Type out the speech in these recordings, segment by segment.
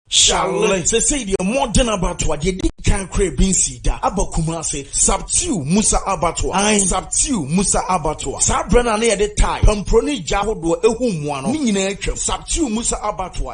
Charlie sɛsɛi deɛ mmɔden abatoa deɛ di kan kora ebi nsi da aba Kumase Sabtiu Musa abatoa an Sabtiu Musa abatoa saa berɛ no a na yɛde tae pampuro ne gya ahodoɔ ehu mmoa no ne nyinaa atwam Sabtiu Musa abatoa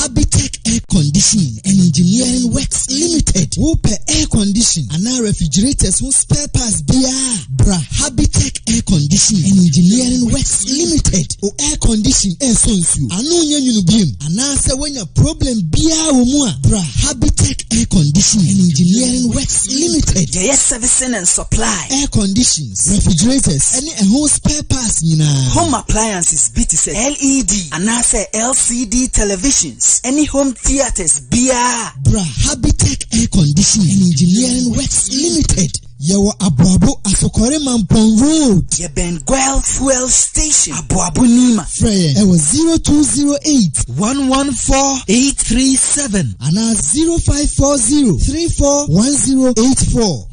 Habitech Air Conditioning and Engineering Works Limited. Wopɛ air condition anaa refrigerators ho spare parts biara bra Habitech Air Conditioning and Engineering Works Limited. O air condition ɛsɔ nsuo ano nyɛ nwunu biem anaasɛ woanya problem biara wɔ mu a bra Habitech Air Conditioning and Engineering Works Limited. Yɛyɛ servicing and supply. Air condition. refrigerators, ne ɛho spare parts nyinaa. Home appliances bi te sɛ LED anaasɛ LCD televisions ne home theatres biara. Bra Habitech Air Conditioning and Engineering Works Limited. Yɛwɔ Aboabo, Asokore Mampong Road. Yɛbɛn Guel Fuel Station, Aboabo Nima. Frɛ yɛn ɛwɔ 0208 114 837 anaa 0540 341084.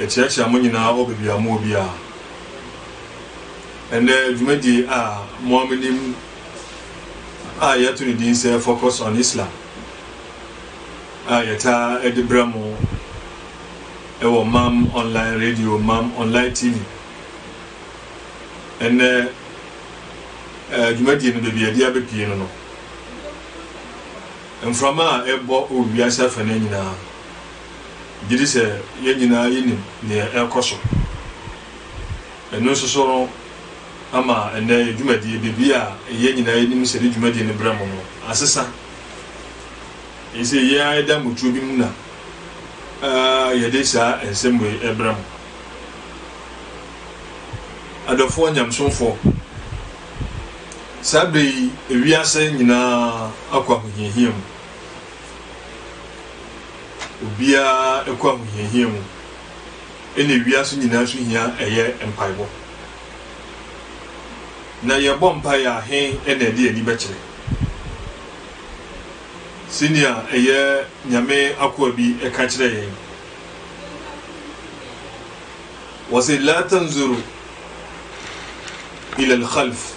Yɛkyeakyea mo nyinaa wɔ baabi a mowɔ biara. Ɛnnɛ, dwumadie a mo ara monim a yɛato ne din sɛ Focus on Islam a yɛtaa de brɛ mo wɔ Mam Online Radio, Mam Online TV. Ɛnnɛ, eh, dwumadie no baabi a yɛde abɛpie no no, mframa a ɛbɔ wɔ wiase afɛnɛ nyinaa gyidi sɛ yɛn nyinaa yenim nea ɛrekɔ so. Ɛno nso so no ama ɛnnɛ yɛn dwumadi, biribi a yɛn nyinaa yenim sɛ yɛde dwumadi no brɛ mo no, asesa. Eye sɛ yɛn ara yɛda mmutuo bi mu na yɛde saa nsɛm wei brɛ mo. Adɔfoɔ nyamesomfoɔ, saa bere yi wiase nyinaa akɔ ahohiahia mu. obiara kɔ ahohiahia mu, ɛna wiase nyinaa so hia ɛyɛ mpaebɔ. Na yɛbɔ mpaeɛ a, he na ɛde ani bɛkyerɛ? Sɛnea ɛyɛ Nyame akoa bi ɛka kyerɛ yɛn, wɔse la tanzuru ila al-khalf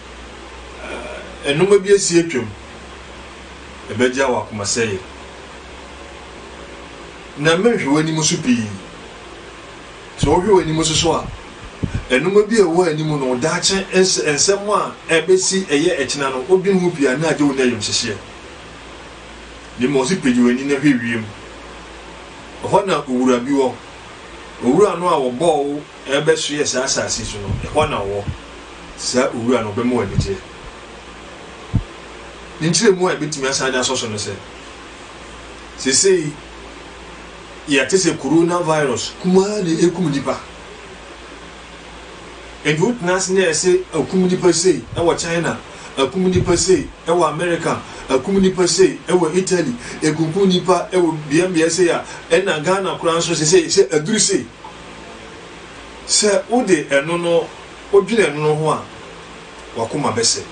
Ɛ nnoɔma bi asi atwam, ɛbɛgyaa w'akomasɛeɛ, na merenhwɛ w'anim so pii. Sɛ wohwɛ w'anim so so a, ɛ nnoɔma bi a ɛwɔ anim no, wo daakye ns nsɛm a ɛbɛsi ɛyɛ ɛkyena no, wodwene ho pii a, na agye wo ne ayamhyehyeɛ. Na mmom ɔse, pagya w'ani na hwɛ wiem, ɛhɔ na owura bi wɔ, owura no a ɔbɔɔ wo, Ɛrebɛsoɛ saa asase yi so no, ɛhɔ na ɔwɔ. Saa Owura no, ɔbɛma wo anigyeɛ. Ne nkyerɛmu a yɛbɛtumi asan de asɔ so ne sɛ, seesei yɛte sɛ Corona virus kumaa deɛ ɛkum nnipa. Enti wotena ase na yɛ se akum nnipa sei wɔ China, akum nnipa sei wɔ America, akum nnipa sei wɔ Italy, ɛkunkum nnipa wɔ beabeae sei a, ɛna Ghana koraa nso seesei sɛ aduru sei. Sɛ wode ɛno no wodwene ɛno no ho a, w'akoma bɛsɛe.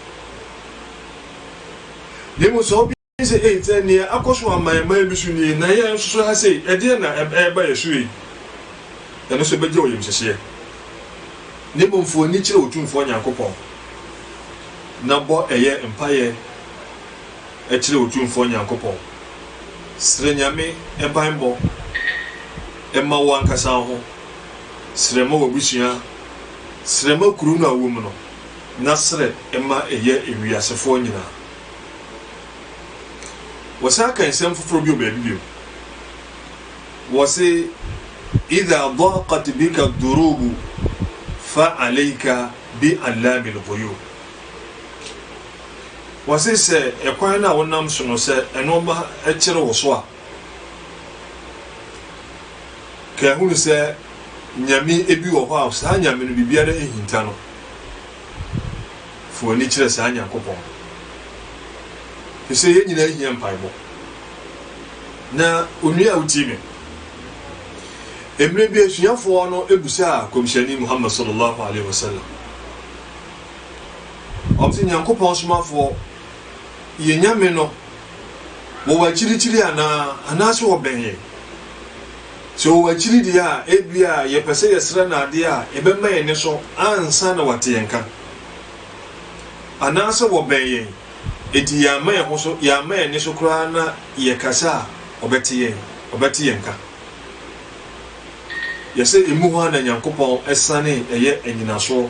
Na mmom sɛ wodwene sɛ, Ei, sɛ nea akɔ so ama yɛn man bi so nie, na yɛn nso so ha sei, ɛdeɛn na ɛreba yɛn so ei? Ɛno nso ɛbɛgye wo yamhyehyeɛ. Na mmom fa w'ani kyerɛ Otumfoɔ Nyankopɔn, na bɔ ɛyɛ mpaeɛ. kyerɛ Otumfoɔ Nyankopɔn. Srɛ Nyame banbɔ ma wo ankasa wo ho, srɛ ma w'abusua, srɛ ma kuro no a wowɔ mu no, na srɛ ma ɛyɛ wiasefoɔ nyinaa. Wɔsan ka nsɛm foforɔ bi wɔ baabi bio. Wɔse, Idha daqat bika durubu fa alayka bi allami lghuyub. Wɔse sɛ ɛkwan no a wonam so no sɛ nnoɔma kyere wo so a, ka hunu sɛ Nyame bi wɔ hɔ a saa Nyame no biribiara nhinta no. Fa w'ani kyerɛ saa Nyankopɔn no. Ɛfiri sɛ yɛn nyinaa hia mpaebɔ. Na onua a wotie me, mmerɛ bi asuafoɔ no busaa Kɔmhyɛni Muhammad sallallahu alaihi wasallam Ɔse Nyankopɔn somafoɔ, yɛn Nyame no wɔ w'akyirikyiri anaa? Anaase ɔbɛn yɛn? Sɛ ɔwɔ w'akyiri deɛ a, ebia yɛpɛ sɛ yɛsrɛ no adeɛ a ɛbɛma yɛn anisɔ ansa na wate yɛn nka. Anaasɛ ɔbɛn yɛn, enti yɛamma yɛn ho so, yɛamma yɛn ani so koraa na yɛkasa a, ɔbɛte yɛn, ɔbɛte yɛn nka? Yɛse emu hɔ a na Nyankopɔn sane yɛ anyinasoɔ.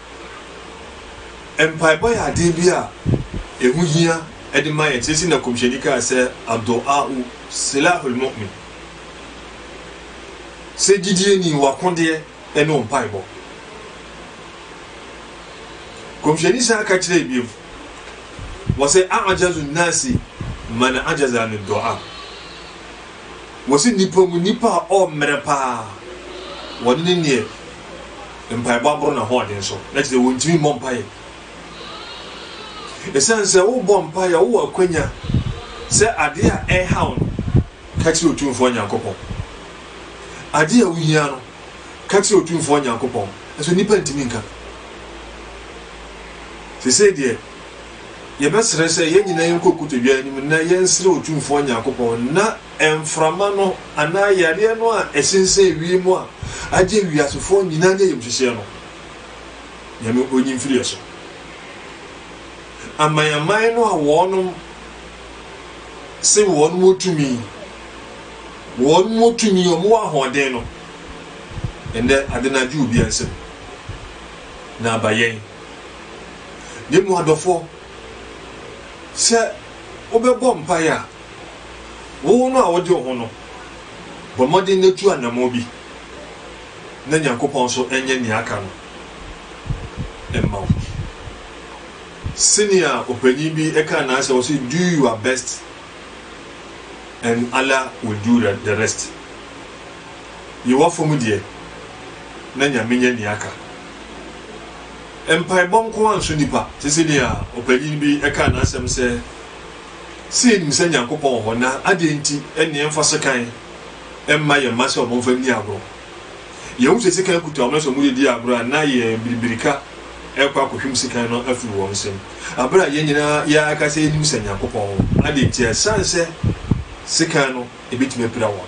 Mpaebɔ yɛ ade bi a ɛho hia de ma yɛn. Seesei na Kɔmhyɛni kaa sɛ, Addu'aa'u silahul mu'min. Sɛ gyidieni, w'akodeɛ ne wo mpaebɔ. Kɔmhyɛni san ka kyerɛ biom, wɔ sɛ, A'jazu nnasi man ajaza ani du'a. Wɔ sɛ, nipa mu nipa a ɔmmerɛ paa, wɔne ne neɛ. mpaebɔ aboro n'ahoɔden so, na kyerɛ sɛ wɔntumi mmɔ mpaeɛ. Ɛsiane sɛ wobɔ mpaeɛ, wowɔ akwanya sɛ adeɛ a ɛrehaw no, ka kyerɛ Otumfoɔ Nyankopɔn. Adeɛ a wohia no, ka kyerɛ Otumfoɔ Nyankopɔn. Nso nnipa ntumi nka. Sesei deɛ, yɛbɛsrɛ sɛ yɛn nyinaa yɛnkɔ kotodwe anim na yɛnsrɛ Otumfoɔ Nyankopɔn na mframa no anaa yareɛ no a ɛsensɛn wiem a agye wiasefoɔ nyinaa ne ayamhyehyeɛ no, Nyame ɔnyi mfiri yɛ so. Aman-aman no a wɔnom se wɔnom wɔ tumi, wɔnom wɔ tumi, wɔn wɔ ahoɔden no, ɛnɛ ade no agye obiara nsam, na aba yɛn. Ne mu adɔfoɔ, sɛ wobɛbɔ mpaeɛ a, Wo ho no a wode wo ho no, bɔ mmɔden na tu anammɔn bi na Nyankopɔn nso nyɛ nea aka no mma wo. Senea ɔpanyin bi kaa no ara sɛ, ɔse, Do your best and Allah will do the rest. Yi w'afɔm deɛ na Nyame nyɛ nea aka. Mpaebɔ nko ara nso nipa, te sɛ nea ɔpanyin bi kaa n'asɛm sɛ, sɛ yenim sɛ Nyankopɔn wɔ hɔ, na adɛn nti na yɛmfa sekan mma yɛn mma sɛ wɔmfa nni agorɔ? Yehu sɛ sekan kuta wɔn, na sɛ wɔde di agorɔ a, na yɛn biribirika rekɔ akɔhwim sekan no afiri wɔn nsam. Bere a yɛn nyinaa yɛaka sɛ yenim sɛ Nyankopɔn wɔ hɔ, adɛn nti? Ɛsan sɛ sekan no ebetumi apira wɔn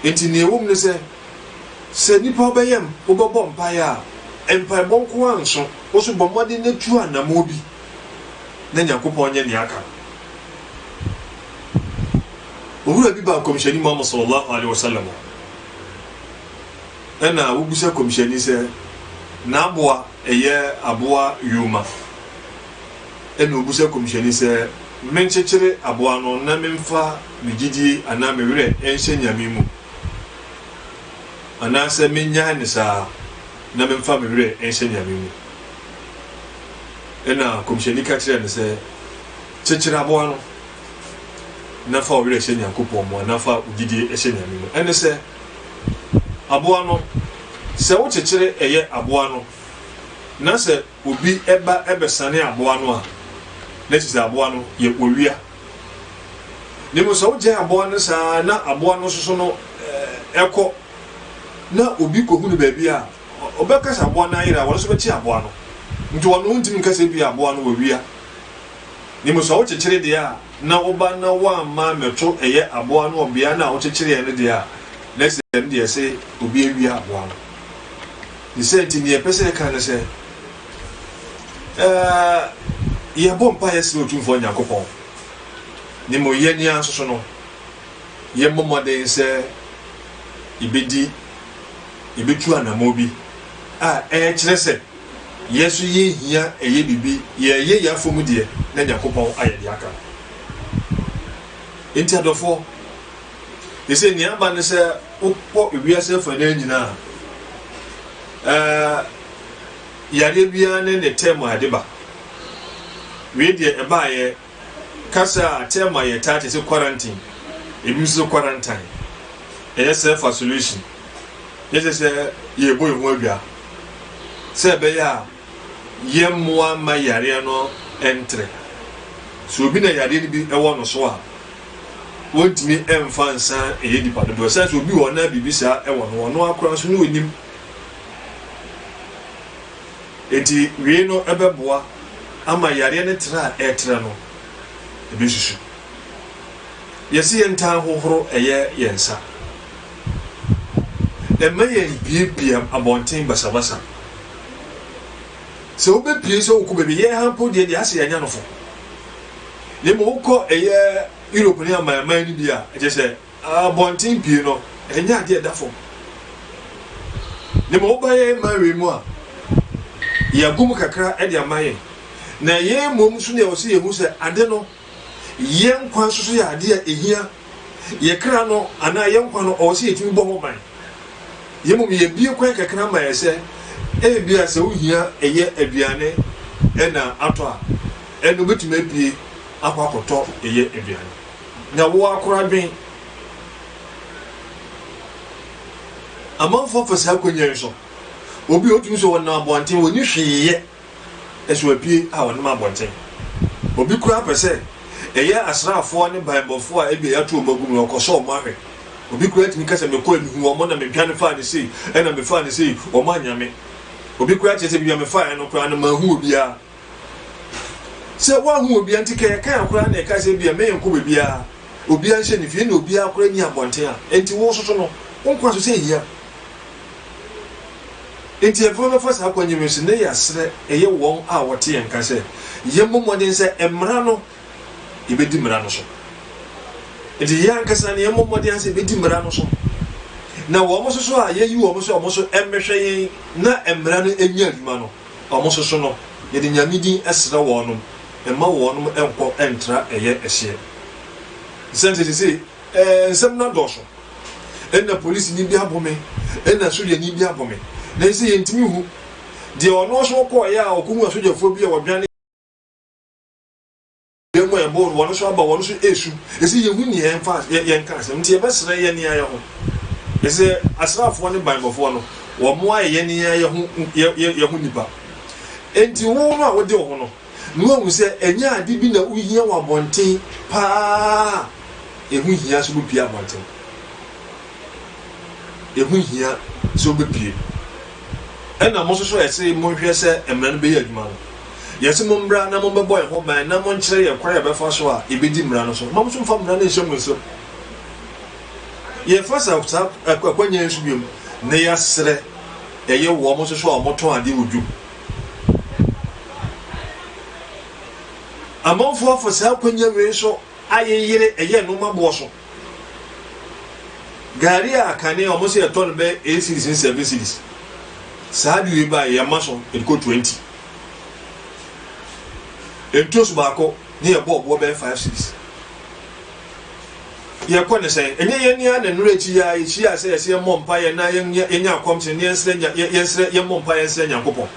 no nti. Nea ɛwom ne sɛ, sɛ nnipa wobɛyam, wobɛbɔ mpae a, mpaebɔ nko ara nso. Wo nso bɔ mmɔden na tu anammɔn bi. na Nyankopɔn nyɛ nea aka no. Owura bi baa Nkɔmhyɛni Muhammad sallallahu alaihi wasallam hɔ, ɛna wobisa Kɔmhyɛni sɛ n'aboa ɛyɛ aboa yoma, ɛna obisa Kɔmhyɛni sɛ menkyekyere aboa no na memfa me gyidie anaa me werɛ nhyɛ Nyame mu anaasɛ mennyae no saa. na memfa me werɛ nhyɛ Nyame mu. Ɛnna Kɔmhyɛni ka kyerɛɛ no sɛ, Kyekyere aboa no, na fa wo werɛ hyɛ Nyankopɔn mu, anaa fa wo gyidie hyɛ Nyame mu. Ɛne sɛ, aboa no, sɛ wokyekyere ɛyɛ aboa no, na sɛ Obi ba bɛsane aboa no a, na ɛsɛ sɛ aboa no yɛ owia. Na mmom sɛ wogyae aboa no saa ara na aboa no soso no kɔ, na obi kɔhu no baabi a, ɔbɛka sɛ aboa no ayera a, ɔno nso bɛkye aboa no. Nti ɔno wontumi nka sɛ ebia aboa no wɔ wia. Na mmom sɛ wokyekyere deɛ a, na woba na woamma ammɛto ɛyɛ aboa no wɔ beaeɛ no a wokyekyereɛ no deɛ a, na ɛsɛ sɛ ɛno deɛ ɛsɛ obi awia aboa no. Ne saa nti, nea ɛpɛ sɛ yɛka ne sɛ, ɛɛ, yɛbɔ mpaeɛ srɛ Otumfoɔ Nyankopɔn, na mmom yɛn ara nso so no, yɛmmɔ mmɔden sɛ yɛbɛdi, yɛbɛtu anammɔn bi a ɛkyerɛ sɛ yɛn nso yɛhia ɛyɛ biribi, yɛreyɛ yɛn afa mu deɛ na Nyankopɔn ayɛ deɛ aka no. Enti adɔfoɔ. Ese nea aba ne sɛ wokɔ wiase afanaa nyinaa a, yareɛ biara ne ne tɛm a ɛde ba. Wei deɛ ɛbaeɛ kasa a tɛm a yɛtaa te sɛ quarantine, ebi nso sɛ quarantine, ɛyɛ self isolation. Yɛsɛ sɛ yɛbɔ yɛn ho adwa sɛ ɛbɛyɛ a yɛmmoa mma yareɛ no ntere. So obi na yareɛ no bi ɛwɔ no so a, Wɔntumi mfa nsa nyɛ nnipa dodoɔ. Sɛ nso obi wɔ hɔ na biribi saa wɔ no, ɔno ara koraa nso na ɔnim. Enti wei no bɛboa ama yareɛ no tra a ɛretra no, ɛbɛsusu. Yɛse yɛntaa hohoro ɛyɛ yɛn nsa. Ɛmma yɛmbuebue abɔnten basabasa. Sɛ wobɛpue sɛ wokɔ baabi, yɛn ha mpo deɛ deɛ ase yɛanya no fo. Na mmom wokɔ ɛyɛ Europe ne amanman no bi a, ɛkyɛ sɛ abɔnten pii no, ɛnyɛ adeɛ ɛda fam. Na mmom woba yɛn man wei mu a, yɛagu mu kakra de ama yɛn. Na yɛn mmom nso na ɛwɔ sɛ yɛhu sɛ ade no, yɛn nkwa nso so yɛ adeɛ a ɛhia. Yɛn kra no anaa yɛn nkwa no, ɔwɔ sɛ yɛtumi bɔ ho ban. Yɛn mmom yɛbue kwan kakra ma yɛn sɛ ebia sɛ wohia yɛ aduane na atɔ a, ɛnna wobɛtumi apue akɔ akɔtɔ yɛ aduane. Na wo ara kora dwen, amanfoɔ fa saa akwannya yi so. Obi a ɔtumi sɛ ɔnam abɔnten, ɔnni hwee yɛ so apue a wɔnam abɔnten. Obi koraa pɛ sɛ ɛyɛ asraafoɔ ne banbɔfoɔ a ebia yɛato wɔn agu no, ɔkɔ sɛ wɔn ahwɛ. Obi koraa tumi ka sɛ, Mekɔɛ, mehuu wɔn na medwane faa no sei, ɛna mefaa no sei, wɔn annya me. Obi koraa kyerɛ sɛ, Baabi a mefaeɛ no koraa no, manhu obiara. Sɛ woanhu obiara nti, kaya kaya koraa na ɛka sɛ ebia merenkɔ baabiara, obiara nhyɛ ne fie, ɛna obiara koraa nni abɔnten a enti wososo no, wo nkwa so sɛ ehia. Enti afei wɔbɛfa saa kwan yi mu nso, na yɛasrɛ, ɛyɛ wɔn a wɔte yɛn nka sɛ yɛmmɔ mmɔden sɛ mmara no, yɛbɛdi mmara no so. Enti yɛn ankasa no, yɛmmɔ mmɔden ara sɛ yɛbɛdi mmara no so, na wɔn nso so a yɛayi wɔn sɛ wɔn nso mmɛhwɛ yɛn na mmara no nyɛ adwuma no, wɔn nso so no, yɛde Nyame din srɛ wɔnom, mma wɔnom nkɔ ntra ɛyɛ ɛhyeɛ. Esiane sɛ seesei Ɛɛ, nsɛm no adɔɔso. Nna polisini bi abɔ me, nna sogyani bi abɔ me, nanso yentumi nhu deɛ ɔno nso ɔkɔeɛ a ɔkɔhuu asogyafoɔ bi a wɔdwane yɛn mu a yɛbɔɔ no, wɔn nso aba, wɔn nso resu. Ɛsɛ yɛhu nea yɛmfa yɛ- yɛnka asɛm, nti yɛbɛsrɛ yɛn yɛn ara ho. Ɛsɛ asraafoɔ ne banbɔfoɔ no, wɔayɛ yɛn yɛn ara yɛn ho yɛ- yɛ- yɛn ho nnipa. Enti wo no a wode wo ho no. na wahu sɛ ɛnyɛ ade bi na wohia wɔ abɔnten paa a ɛho hia sɛ wobɛpue abɔnten. Ɛho hia sɛ wobɛpue. Ɛna mo nso so ɛse monhwɛ sɛ mmara no bɛyɛ adwuma no. Yɛse mommra na mommɛbɔ yɛn ho ban na monkyerɛ yɛn kwan a yɛbɛfa so a yɛbɛdi mmara no so. Mma mo nso mfa mmara no nhyɛ mo nsam. Yɛfa saa akwannya yi so biom na yɛasrɛ ɛyɛ wɔn nso so a wɔtɔn adeɛ wɔ dwom. Amanfoɔ afa saa akwanya wei so ayeyere ɛyɛ nnoɔma boɔ so. Gari a kane a wɔn sɛ yɛtɔ no bɛ eight series ne seven series. Saa de wei ba yɛ ma so yɛde kɔ twenty. Ntoso baako ne yɛ bɔ ɔboɔ bɛyɛ five series. Yɛkɔ no sɛn? Ɛnyɛ yɛn ara na nnora akyi yi ara yehyiaa sɛ yɛsɛ yɛmmɔ mpaeɛ na yɛnyɛ akɔmhyɛ na yɛnsrɛ nya yɛnsrɛ yɛmmɔ mpaeɛ nsrɛ Nyankopɔn?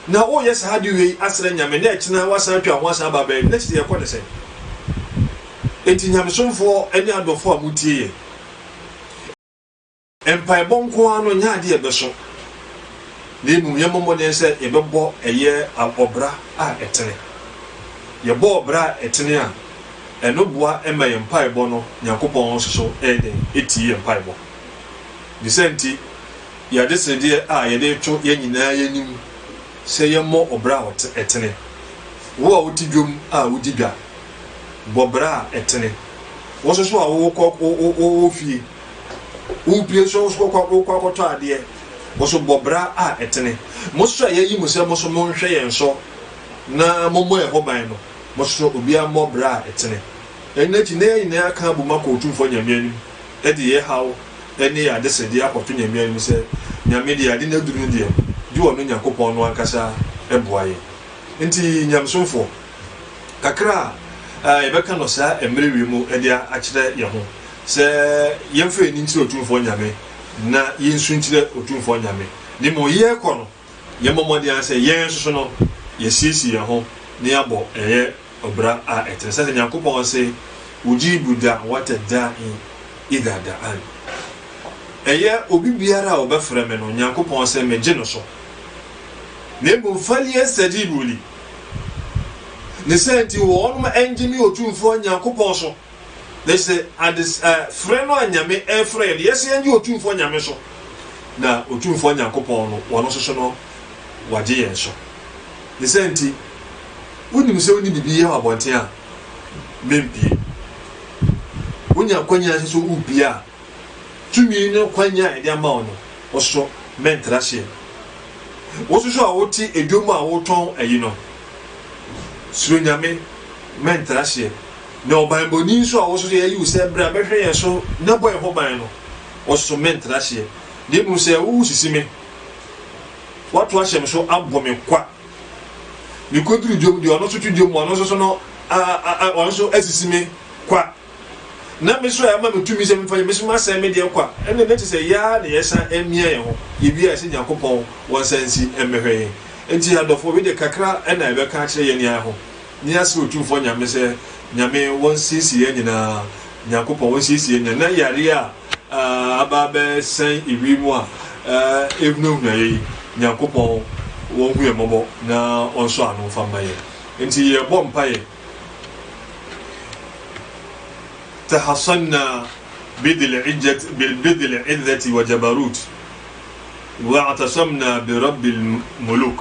Na woyɛ saa ade wei asrɛ Nyame na ɛkyena woasan atwa wo ho asan aba abɛyɛ no na kyerɛ yɛkɔ no sɛn? Enti Nyamesomfoɔ ne adɔfoɔ a motie yɛn, Mpaebɔ nko ara no nyɛ ade a ɛbɛso, na mmom yɛmmɔ mmɔden sɛ yɛbɛbɔ ɛyɛ ɔbra a ɛtene. Yɛbɔ ɔbra a ɛtene a, ɛno boa ma yɛn mpaebɔ no Nyankopɔn nso so yɛ dɛn? Tie yɛn mpaebɔ. Ne saa nti, yɛn adesedeɛ a yɛde reto yɛn nyinaa yɛn anim sɛ yɛmmɔ ɔbra a ɛtene. Wo a wote dwam a wodi dwa, bɔ bra a ɛtene. Wo nso so a wowɔ fie. Wopue nso wo so kɔkɔ wokɔ akɔtɔ adeɛ, wo so bɔ bra a ɛtene. Mo nso a yɛayi mo sɛ mo nso monhwɛ yɛn so na mommɔ yɛn ho ban no, mo nso obiara mmɔ bra a ɛtene. Ɛno akyi na yɛn nyinaa aka abom akɔ Otumfoɔ Nyame anim de yɛn haw ne yɛn adesrɛdeɛ akɔto Nyame anim sɛ, Nyame deɛ ade no aduru no deɛ, gye ɔno Nyankopɔn no ankasa boa yɛn. Enti Nyamesomfoɔ, kakra a yɛbɛka no saa mmerɛ wei mu de akyerɛ yɛn ho. Sɛ yɛmfa yɛn ani nkyerɛ Otumfoɔ Nyame, na yensu nkyerɛ Otumfoɔ Nyame, na mmom yɛkɔ no, yɛmmɔ mmɔden ara sɛ yɛn nso so no yɛasiesie yɛn ho na yɛabɔ ɛyɛ ɔbra a ɛtene, sɛdeɛ Nyankopɔn se, Ujiibu da'wata daa'i idha da'an, Ɛyɛ obi biara a ɔbɛfrɛ me no, Nyankopɔn se, megye no so, na mmom falyastajiibu li, ne saa nti wɔnom ngye me Otumfoɔ Nyankopɔn so. na sɛ ades ɛ frɛ no a Nyame ɛrefrɛ yɛn no yɛse yɛngye Otumfoɔ Nyame so, na Otumfoɔ Nyankopɔn no Ɔno nso so no Wagye yɛn so. Ne saa nti, wonim sɛ wone biribi yɛ wɔ abɔnten a, mempie. Wonya akwanya nso so wopie a, tumi ne kwanya a yɛde ama wo no, wo so mɛntra seɛ. Wo nso so a wote edwom a wotɔn ayi no, suro Nyame, mɛntra seɛ. Na ɔbanbɔni nso a ɔwɔ so sɛ yɛayi wo sɛ bra bɛhwɛ yɛn so na bɔ yɛn ho ban no, ɔsom me ntra hyeɛ, na mmom sɛ wowo sisi me, woato ahyɛ me so abɔ me kwa. Mekɔduru dwom deɛ ɔno nso to dwom, ɔno nso so no, ɔno nso asisi me kwa. Na me so a ɛma me tumi sɛ memfa yɛ, me so masɛe me deɛ kwa. Ɛnna na ɛte sɛ yɛa na yɛsan amia yɛn ho. Yɛbia yɛ sɛ Nyankopɔn wɔnsan nsi mmɛhwɛ yɛn. Enti adɔfo, wei deɛ kakra na yɛbɛka akyerɛ yɛn ne yɛn ho. Nea se Otumfoɔ Nyame sɛ, Nyame, wɔnsiesie yɛn nyinaa, Nyankopɔn, wɔnsiesie yɛn nyinaa, na yareɛ a aba abɛsɛn ewie mu a ɛhunahuna yɛn yi, Nyankopɔn, wɔnhu yɛn mmɔbɔ na ɔnsɔ ano mfa mma yɛn. Enti yɛbɔ mpaeɛ, Tahassanna bidil-ijjat, bidil-izzati wa jabarut, wa'atasamna bi Rabbil muluk.